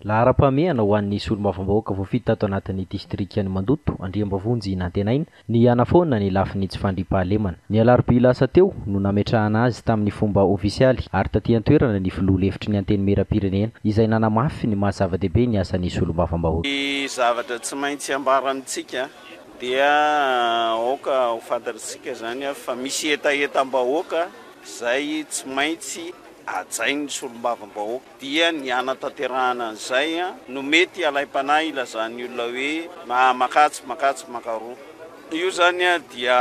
Laharam-pahamehana ho an'ny solombavambahoaka voafidy tato anatin'ny distrikan'i Mandoto, Andriambavonjy Nantenaina, ny hanafoana ny lafiny tsy fandriampahalemana. Ny alarobia lasa teo no nametrahana azy tamin'ny fomba ofisialy ary taty an-toerana ny filoha lefitry ny Antenimierampirenena izay nanamafy ny maha zava-dehibe ny asan'ny solombavambahoaka. Ny zavatra tsy maintsy ambara amintsika dia aoka ho fantatr'isika izany fa misy hetahetam-bahoaka izay tsy maintsy hajainy ny solombavambahoaka dia ny hanatanterahana an'izay no mety halaim-panahy hilazan'ny olona hoe makajy makajy makaroa io izany dia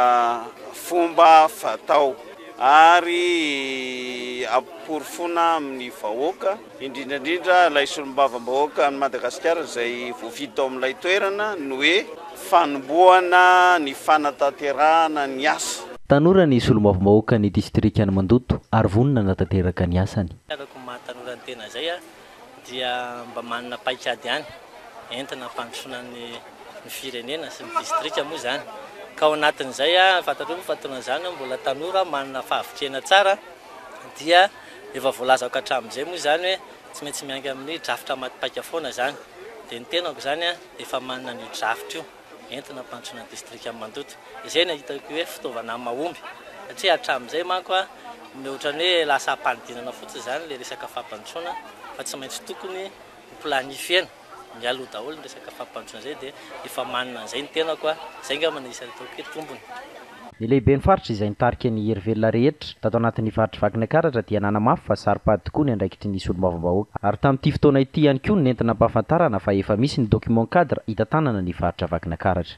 fomba fatao ary amporofoana amin'ny vahoaka indrindra indrindra ilay solombavambahoakan'i Madagasikara izay voafidy tao amin'ilay toerana ny hoe Fanombohana ny fanatanterahana ny asa. Tanora ny solombavambahoaka ny distrikan'i Mandoto ary vonona hanatanteraka ny asany. Araka ny maha tanora ny tena izay aho dia mba manana paikady ihany entina hampandrosoana ny ny firenena sy ny distrika moa izany ka ao anatin'izay aho fantatrao moa fa taorian'izany aho mbola tanora aho manana fahavitrihana tsara dia efa voalazako hatramin'izay moa izany hoe tsy maintsy miainga amin'ny drafitra maty paika foana izany dia ny tenako izany Efa manana ny drafitra io entina ampandrosoana ny distrika an'i Mandoto. Izay no hitako hoe fitaovana mahomby satria hatramin'izay manko no ohatran'ny hoe lasa ampanidinana fotsiny izany ilay resaka fampandrosoana fa tsy maintsy tokony ho planifiena mialoha daholo ny resaka fampandrosoana izay dia efa manana an'izay ny tenako. Izay angamba no isan'ny ataoko hoe tombony. Ny lehiben'ny faritra izay nitarika ny hery velona rehetra tato anatin'ny faritry Vakinakaratra dia nanamafy fa saro-pady tokoa ny andraikitry ny solombavambahoaka ary tamin'ity fotoana ity ihany koa no nenti-nampahafantarana fa efa misy ny document cadre hitantanana ny faritra Vakinakaratra.